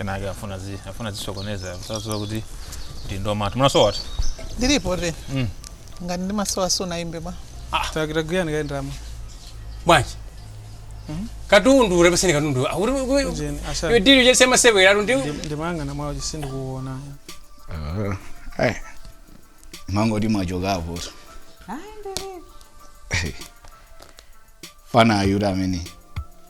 ena ake afuna zi afuna zisokoneza saziwa kuti ndi ndomatu mumasowa wati ndilipo te Mm. ngati ndimasowa sunayimbe bwa takitagwirani ukayendamo bwanji katundu urepeseni katundu Ah, uri- uri- Ujeni, asha. iwe dili uchese masewera atu ndi ndimayang'ana mwachesi sindikuona Ai. Mangoti mwachokapo. Mfana uja amene.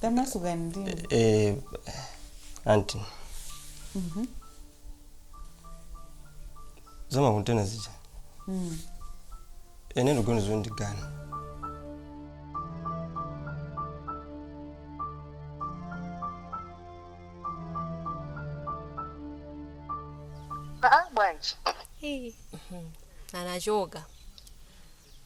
tamasukani ndinu eh, anti zamakontena zija inde ndiponi zandikana aa bwanji anachoka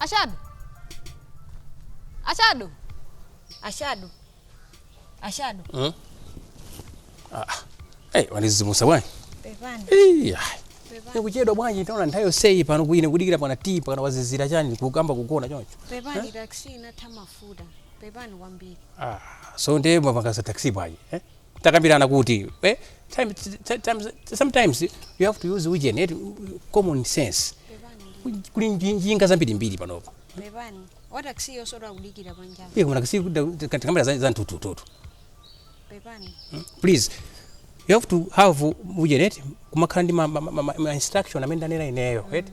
Ashadu, Ashadu, Ashadu, Ashadu. Hmm? Ah, hey, wandidzidzimutsa bwana. Pepani. Iii, kuchedwa bwanji taona nthawi yonseyi pano kuine kudikira panja timpaka ndawazizidwa chani kuyamba kugona choncho. Pepani taxi inatha mafuta. Pepani kwambiri. Aaa so nde mwapanga za taxi bwanji eh? takambilana kuti eh? time, ti- times, sometimes you have to use ujeni eti common sense kuli nji- njinga zambirimbiri panopo pepani wataksiyo sorry akudikira panjapa iye kumanena kuti tikakwera za za mtutututu pepani please you have to have ujeni eti kumakhala ndi ma, ma, ma, ma, ma instruction amene ndanena ineyo eti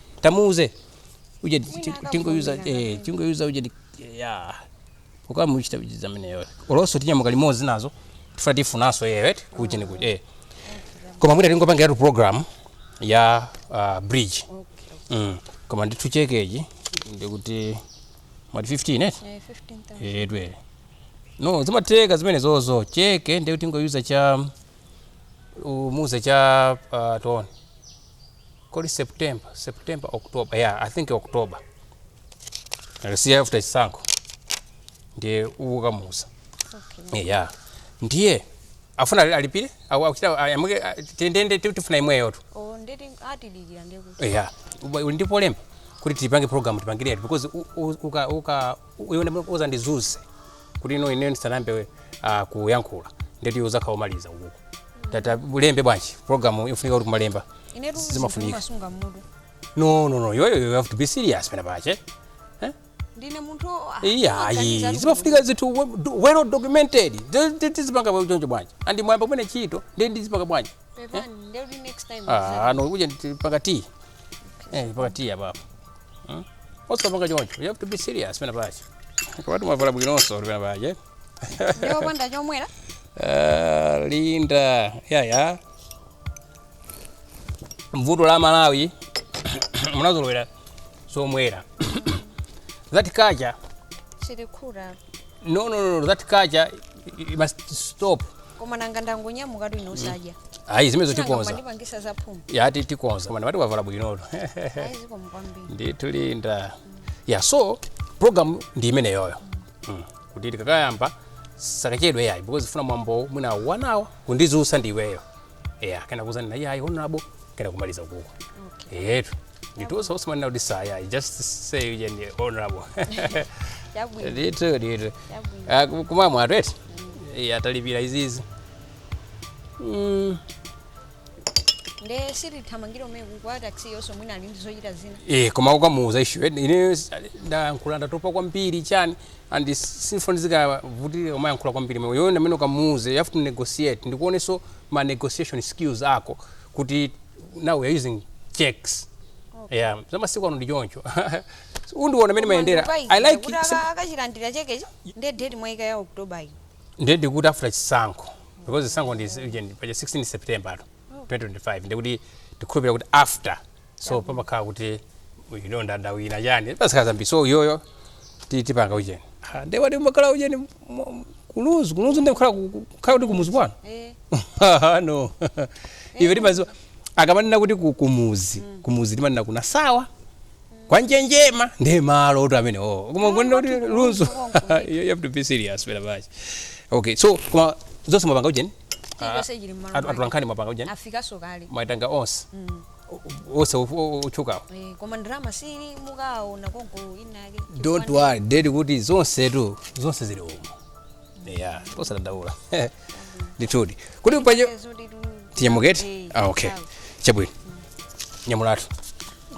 tamuuze ujeni ti- Mwina akakumbukira tingomuuza eh, kapena. tingomuuza ujeni ti- ya pokawa muchita ujiza ameneyo olo nso tinyamuka limodzi nazo tifuna tifunanso yeyo eti kuchi ni kuchi eh. koma mwina tingopangiratu program ya uh, bridge Okay. mm. koma ndithu chekechi ndikuti mwati 15 eti Eh, 15,000. edwe no zimatheka zimenezozo cheke ndikuti tingomuuza cha umuze cha uh, toni kodi september september october yeah i think october akasiya after chisankho ndiye ukamuuza okay. yeah ndiye afuna ali- alipire Aku- akuchita amuke ndende tifuna inuyotu oh nde atidikira ndekuti yeah Uba- uli ndi polemba kuti tipange program tipangiretu because u- u- uka uka iwe ndi mulungu uzandizuse kuti ino ine ndisanayambe uh, kuyankhula ndeti uzakhala omaliza ukuku tata ulembe bwanji program yofunika kuti kumalemba inetu Zimafunika. kumasunga mmutu no no no yoyo you have to be serious pena pache eh? ndine munthu o- ah, iya maganizo ayi ati zimafunika zithu we- do- well documented Zi- zi- tizipanga za choncho bwanji pamene mwayamba kumene ntchito ndi ndizipanga bwanji pepani ndeuti next time Ah, ano kuja ndi- panga tea eh panga tea apa apa Hmm? Osapanga choncho. You have to be serious pena pache. Komatu mwavala bwinonso pena pache. Ndiwopanda chomwera? Uh, Linda. Ya ya. Vuto la Malawi munazolowera zomwera. That culture chikukula no no no that culture i- i must stop koma nanga ndangonyamuka tu inenso sadya ayi zimenezo tikonza ndipangisa za phuma yati tikonza koma ndimati wavala bwinotu ayi zikomo kwambiri ndithu linda ya so program ndi imeneyoyo mm. kuti tikakayamba tisakachedwe ayi because funa mwambo mwina one hour kundizusa ndi iweyo eya kenaka kuzanena ine ayi honorable kenaka kumaliza ukuko okay. eyetu ndithunso usimanena kuti sir you just say uje ndi honorable Chabwino. ndithu ndithu Chabwino. Ah, ku- kumamwa a taxi eti Eh, atalipira izizi Mm, Nde tizithamangira mene wa taxi-yonso mwina ali ndi zochita zina. eh koma ukamuuza issue eti ine s- ndayankhula ndatopa kwambiri chani and sindifuna zikavute umayankhula kwambiri nde tiona amene ukamuuze you have to negotiate ndikuonenso ma negotiation skills ako kuti now we are using checks okay. yeah. zamasiku ano ndi choncho ndiona mmene mayendera i like akachilandira chekechi nde date mwaika ya october yi nde ndikuti after chisankho because chisankho ndi pa 16 september 2025 ndikuti ndikukhulupirira kuti after so pamakhala kuti ine ndawina chani pasakhala zambiri so iyoyo ti- tipanga ujeni Ah, nde wati umakhala ujeni mu- mu- kulunzu kulunzu nde kukhala ku- ku- kukhala kuti kumuzi kwanu Eh, Ah, no iwe timaziwa akamanena kuti ku- kumuzi kumuzi timanena ku nasawa kwa njenjema ndi malo oti amene oo koma kunena kuti kwathu lunzu kulunzu konko. you you have to be serious pena pache okay so koma zonse mwapanga ujeni chilichonse chili m'malo mwake. atulankhani mwapanga ujeni afikaso kale mwaitanga onse wose otchukawo Eh, koma ndalama zili mukaona konko inake don't worry daddy kuti zonse tu zonse zili umo yeah osadandaula ndithudi kuti paja tinyamuke eti ah okay chabwino nyamukatu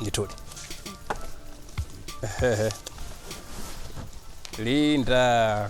ndithudi linda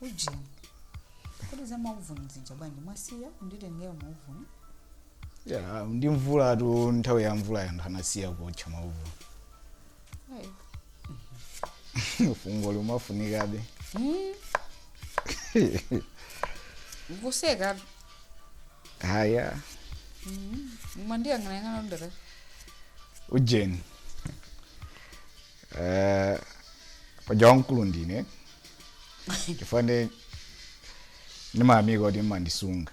ujeni kuti za mauvuni zija bwanji mwasiya nditengera mauvuni ndi mvulatu nthawi ya mvula ya anthu anasiya kuotcha mauvuni Ayi. fungo limafunikabe Mm. kuseka haya mwandiyang'anayang'ana ndaka ujeni Eh, paja wamkulu ndine chifukwa ine ndimayamika kuti mmandisunga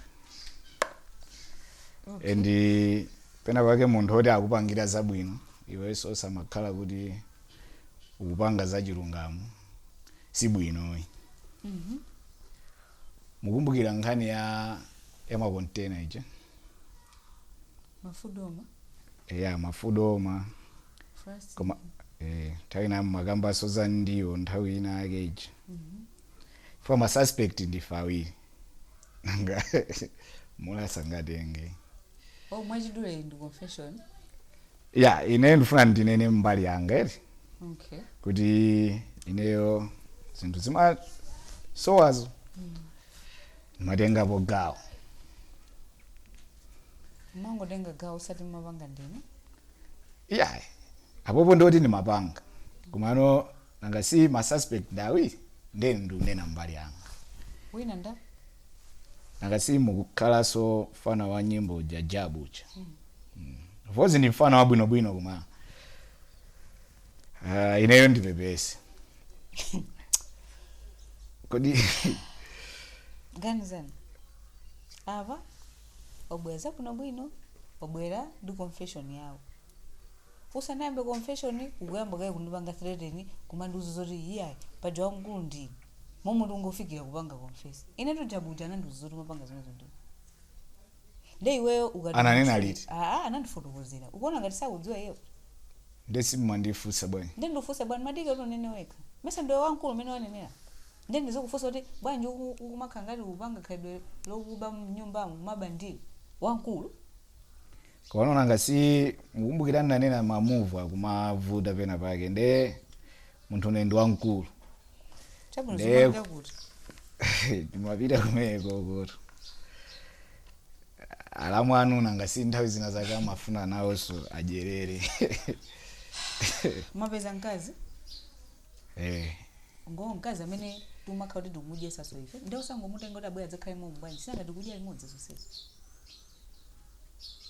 and pena pake munthu oti akupangira zabwino iwenso osamakhala kuti ukupanga zachilungamo si bwinoyi mukumbukira nkhani ya makontena ija mafudoma ya mafudoma First. koma eh, nthawi ina mmakambaso za ndiwo nthawi ina yake ija chifukwa ma suspect ndife awiri nanga mulasa sangatenge Oh, mwachidule ndi confession. ya ineyo ndifuna ndinene mbali yanga eti Okay. kuti ineyo zinthu zimasowazo ndimatengapo gawo Mwangotenga gawo osati mumapanga ndinu. Iyayi, apopo ndoti ndimapanga komano nanga si ma suspect ndi awiri nde ndikunena mbali yanga wina nda nanga si mukukhalanso mfana wa nyimbo uja Jabu uja Mm. of course ndi mfana wabwinobwino koma ah, ineyo ndipepese kodi ganizani apa wabwera zabwinobwino wabwera ndi confession yawo usanayambe confession ukuyamba kaye kundipanga threaten kumandiuza zoti iyayi paja wamkulu ndi ine momwe ungofikira kupanga confess inetu Jabu uja anandiuza zoti umapanga zimenezo ndi ine. nde iweyo ukati Ananena munthu- liti? aa anandifotokozera ukuona ngati sakudziwa iyeyo ndesi mmandifunsa bwana nde ndifunse bwana madike kuti unene wekha mesa ndiwe wamkulu mmene wanenera Nde ndizikufunsa kuti bwanji ukumakhala ngati ukupanga khalidwe lokuba mnyumbamu mumaba ndi wamkulu? Komano nanga si mukumbukira ndinanena ma move kumavuta pena pake nde munthu une ndi wamkulu Chabwino nde zimapita kuti? ndimapita kumenekokotu alamu anu nanga si nthawi zina zake amafuna nawonso adyerere. Mwapeza mkazi? eh ngo mkazi amene timakhala kuti tikumudyesaso ife nde usangomutenga kuti abwera adzakhale momu bwanji sinanga tikudya limodzi zonsezo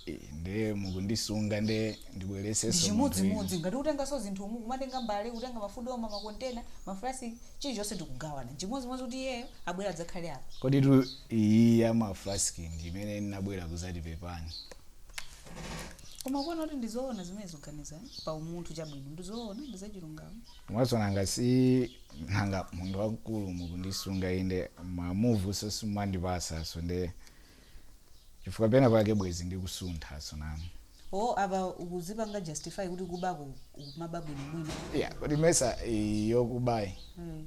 eh, nde mukundisunga nde ndibwereseso chimodzimodzi ngati kutengaso zinthu umu kumatenga mbale kutenga mafudoma makontena mafrasi chilichonse tikugawana chimodzimodzi kuti iyeyo abwera adzakhale apa koditu iyi ya mafrasi ndi imene ndinabwera kuzati pepani koma kuona kuti ndizoona zimene zoganiza pa umunthu chabwino ndizoona ndizachilungamo mwaso nanga sinanga munthu wamkulu mukundisunga inde mamuvu simumandipasaso nde chifukwa pena pake bwezi ndikusunthaso nanu o apa ukuzipanga justify kuti kubako ukumaba bwinobwino ya kodi mesa yokubayi mm.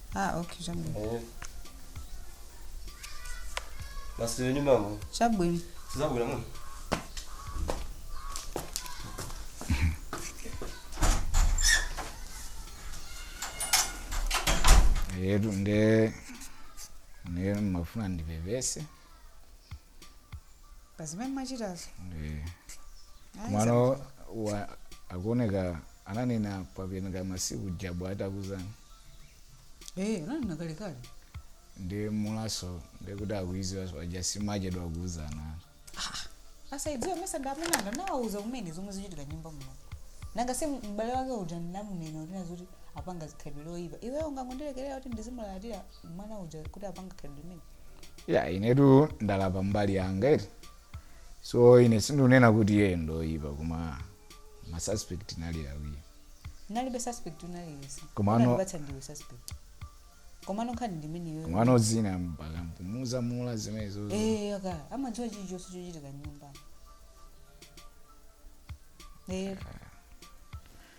ah okay chabwino Eh. basi iwe nyumba yamo chabwino sizabwera mwe letu nde lero ndimafuna ndipepese pazimene ndimachitazo nde mwana wa akuoneka ananena kwapeneka masiku jabu atakuzana Eh, unanena kalekale. ndi mulaso ndekuti akuiziwa paja simachedwa kuuzana Asaidziwe mesa ndi amuna anga nawauza kumene zomwe zichitika mnyumba muno. Nanga si m'bale wake uja ndinamunena kuti nazuti apanga zikhalidwe loyipa. Iweyo ungangondilekerera kuti ndizimulalatira mwana uja kuti apanga khalidwe limene. ya inetu ndalapa mbali yanga eti so ine sindinena kuti iye ndoyipa koma masuspect nali awiri nalibe suspect unaliyesa Komano- unandipatsa ndiwe suspect komano nkhani ndi imene iweyo mwana udzina mpaka mpumuza mula zimenezo Eh, aka amadziwa chilichonse chochitika mnyumba Eh,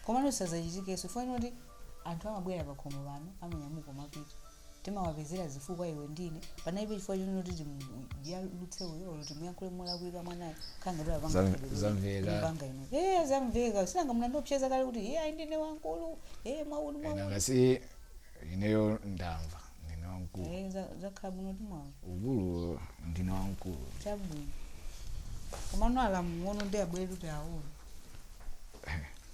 komano sazachitikenso fanoti anthu amabwera pakhomo pano amanyamuka amapita timawapezera zifukwa iwe ndi ine panalibe chifukwa chonoti timuyalutse uyo olo timuyankhule molakwika mwanayo khanga kuti apanga Zam- khalidwe zamveka. lipanga ino ee zamveka sinanga munandiopseza kale kuti iye ayi ndine wankulu ee mwauni ena mwauni ngati ineyo ndamva ndine wamkulu ee za- zakhala bwino timwawo ukulu ndine wamkulu chabwino komano alamu ang'ono ndi abwere kuti aona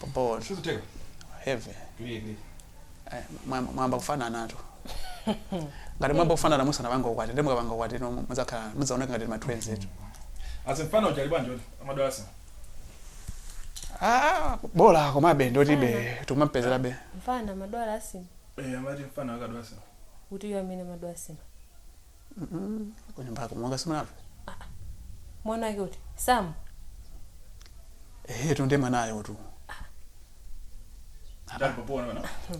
Popo Sizitheka. heavy. Clear, clear. Eh, mwa- Mwayamba kufananatu. Ngati mwayamba kufanana musanapanga ukwati, nde mukapanga ukwati no mudzakhala mudzaoneka ngati ma twins etu. Azimfana uja ali bwanji odi? Amadwasa. Ah, bola komabe ndotibe tikumampezerabe. mfana amadwala asima Eh, amati mfana akadwasa. kuti iwe amene umadwala asima kunyumbako mwanga simunamve mwana wake kuti Sam ehetu ndiye mwanayo tu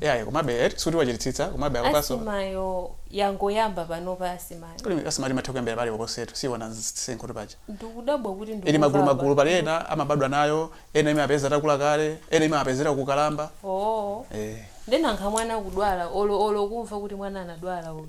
yaye komabe eti sikuti wachititsitsa komabe akopaso asimayo yangoyamba panopa asimayo kuli asima imatha kuyambira paliponsetu siona msinkhutu paja ndikudabwa kuti ili ndikumva magulu magulu apa. pali ena amabadwa nayo ena imapeza takula kale ena imapezera kukalamba oo eh. nde nanga mwana kudwala olo olo kumva kuti mwana anadwala uyu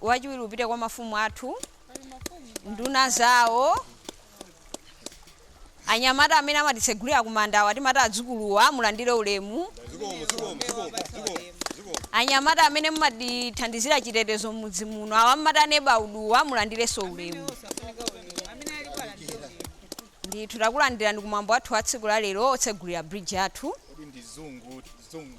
Wachiwiri upite kwa mafumu athu nduna zawo anyamata amene amatitsegulira kumandawa timati adzukuluwa mulandire ulemu anyamata amene mumatithandizira chitetezo m'mudzi muno awa mmati neighbourhood-wa mulandirenso ulemu ndithu takulandirani kumwambo wathu wa tsiku la lero wotsegulira bridge yathu kodi ndi zungu zungu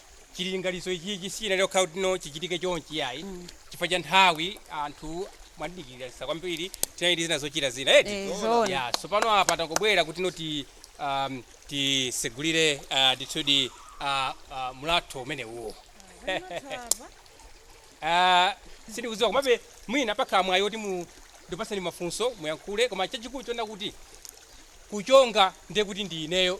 chilinganizo ichichi sichinali chokhala kuti no chichitike chonchi yayi chifukwa cha nthawi anthu mwandidikirira kwambiri tinali ndi zina zochita zina eti Eh, zoona. ya tsopano apa tangobwera kuti no ti- um, tisegulire uh, ndithudi uh, uh, mlatho umene uwo Ah, sindikudziwa komabe mwina pakhala mwayi woti mundipatseni mafunso muyankhule koma chachikulu chonena kuti kuchonga ndiye kuti ndi ineyo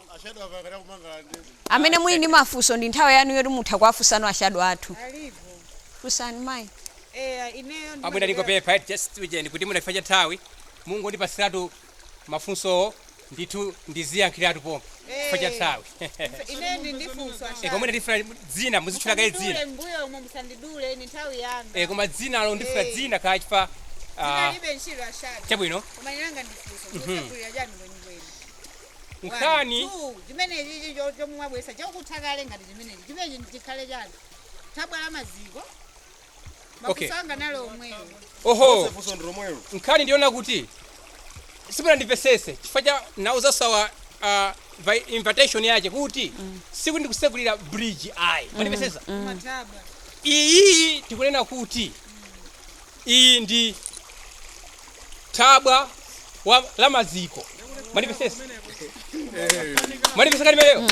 amene muli ndi mafunso ndi nthawi yanu yoti mutha kuwafunsano ashado athu fusani mayi amwene ndingopepa eti just ujeni kuti mwina chifa cha nthawi mungondipatsiratu mafunsowo ndithu ndiziyankhiratu pompo chifa cha nthawi koma ine ndifuna dzina muzitchula kaye dzina mbuyo umo musandidule ni nthawi yanga Eh, koma dzinalo ndifuna Eh. dzina kaye chifa ah, lilibe ntchito aShadow chabwino koma ine langa ndi funso Mhm. mukutsekulira chani kwenikweni nkhani Two, chimene chichi cho- chomwe mwabweretsa chokutha kale ngati chimenechi chimenechi ndi chikhale chani thabwa la maziko Okay. mafunso anga ndi omwewo oho Funso ndi lomwelo. nkhani ndiona kuti simunandimvetsetse chifukwa cha amene anauza awa uh, vi- invitation yache kuti sikuti ndikutsegulira bridge ayi mundimvetsetse mathabwa iyi tikunena kuti iyi ndi thabwa la maziko mulimvetsetsa mulimvetsetsa limenelo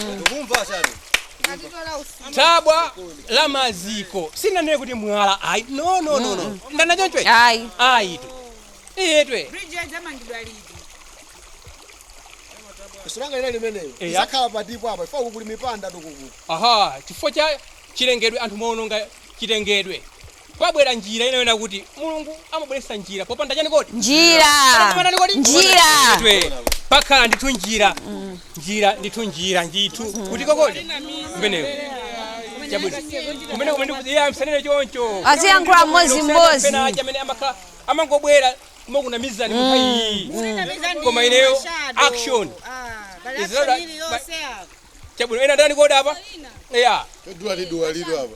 thabwa la maziko sindinanene kuti mwala ayi no no no no ndanena chonchoyi ayi ayi tu iyetwe bridge yadzamangidwa liti funso langa ine limeneyo Eya. isakhala patipo apa chifa kukuli mupanga chitukuko aha chifukwa cha chilengedwe anthu mwaononga chilengedwe Kwabwera njira ina yona kuti Mulungu amabweretsa njira popanda chani kodi? Njira. Popanda chani kodi? Njira. Twe. Pakhala ndithu njira. Njira ndithu njira ndithu. Kuti ko kodi? Kumeneko. Chabwino. Kumene kumene kuti iye musanene choncho. Aziyankhula mmodzi mmodzi. Pena aja amene amakhala amangobwera koma kunamizani mutha iyi. Koma ineyo action. Izilala- Chabwino ena ndani kodi apa? Yeah. Duwali duwali apa.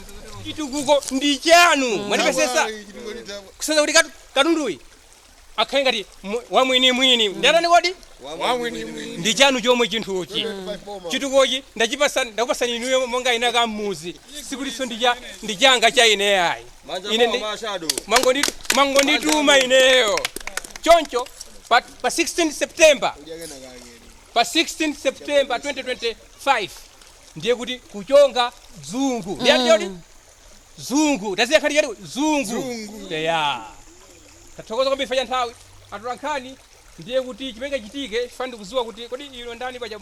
chitukuko ndi chanu mwandipezetsa kuseza kuti katu- katunduyi akhale ngati mu- wamwinimwini ndi yandani kodi ndi chanu chomwe chinthuchi chitukukochi ndachipasa- ndakupasani inuyo monganso mudzi sikutinso ndi cha- ndi changa cha ine ayi ine ndi- mangonitu- mwangondituma ineyo choncho pa, pa 16 september pa 16 september 2025 ndiye kuti kuchonga dzungu ndiye mm. choti dzungu tasiya kale choti dzungu eya tathokoza kwambiri fanya nthawi atolankhani ndiye kuti chimene chichitike tifuna ndikuziwa kuti kodi iwo ndani paja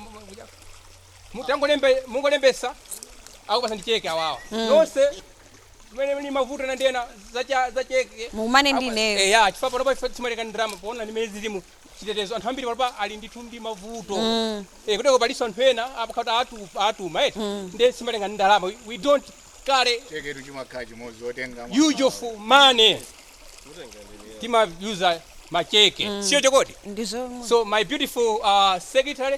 mungolembesa akupatsani cheke awawa mm. nonse amene muli ndi mavuto ndi nkhani za za cheke mukumane ndi ineyo eya eh, chifukwa panopa sitimatenga ndalama poona ndi mmene zilili mu chitetezo anthu ambiri panopa ali ndithu ndi mavuto mm. eh, kuteroko palinso anthu ena apakati atu, atuma eti eh? mm. nde sitimatenga ndi ndalama we don't carry cheketu chimakhala chimodzi otenga use of money timayuza macheke mm. si choncho kodi so my beautiful uh, secretary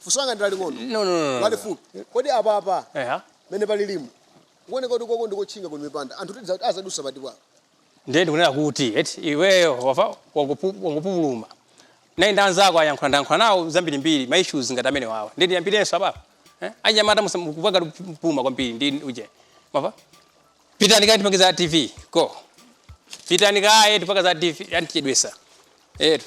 Funso langa ndi laling'ono. No, no, no, no. Lalifupi. Kodi apapa Eha. mmene palilimu kuoneka kuti koko ndikotchinga kuli mipanda anthu tidza kuti azadutsa pati bwa ndiye ndikunena kuti eti iweyo wamva wangopu- wangopupuluma naye ndi anzako ayankhula ndayankhula nawo zambirimbiri ma issues ngati amene wawa ndiye ndiyambirenso apapa eh? anyamata mukupupuluma kwambiri ndi uje mwamva pitani kaye tipanga za tv go pitani kaye tipanga za tv andichedwetsa eti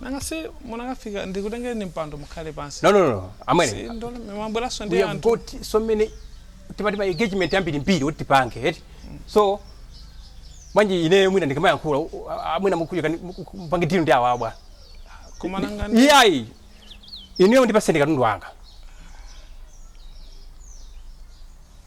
nanga si munangofika ndikutengeni mpando mukhale pansi no no no no amwene Si, ndole- mwabweranso ndi we have anthu got so many tili ndi ma engagement ambirimbiri kuti tipange eti so manje ineyo mwina ndikamayankhula u- a- a- mwina mukuja mupange deal ndi awa bwana koma nanga ndi- iyayi ineyo ndipatseni kaye katundu wanga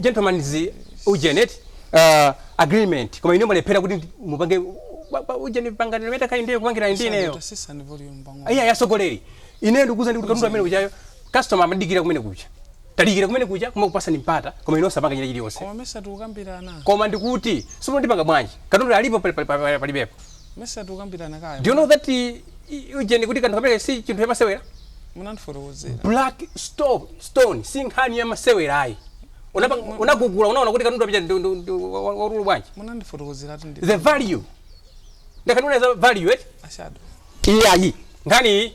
gentleman's ujeni eti agreement koma ine mwalephera kuti mupange ujeni pangani ndi mita kaye ndiye kupangira ndi ineyo iyayi atsogoleri ine ndikukuuzani kuti katundu amene ujayo customer amadikira kumene kuja tadikira kumene kuja takupatsani mpata koma inu simunapange chile chilichonse koma mesa tikukambirana koma ndikuti sikuti ndipanga bwanji katundu alipo palibepo mesa tikukambirana kaya do you know that i- i- ujeni kuti kanthu kamene si chinthu yamasewera munandifotokozera black stone si nkhani ya masewera ayi Unapa- unagugula unaona kuti katundu apita ndu- ndu- ndu- wa- wa- waululu bwanji munandifotokozera ati ndi the value ndakanakuuza value eti ashado iyayi nkhani iyi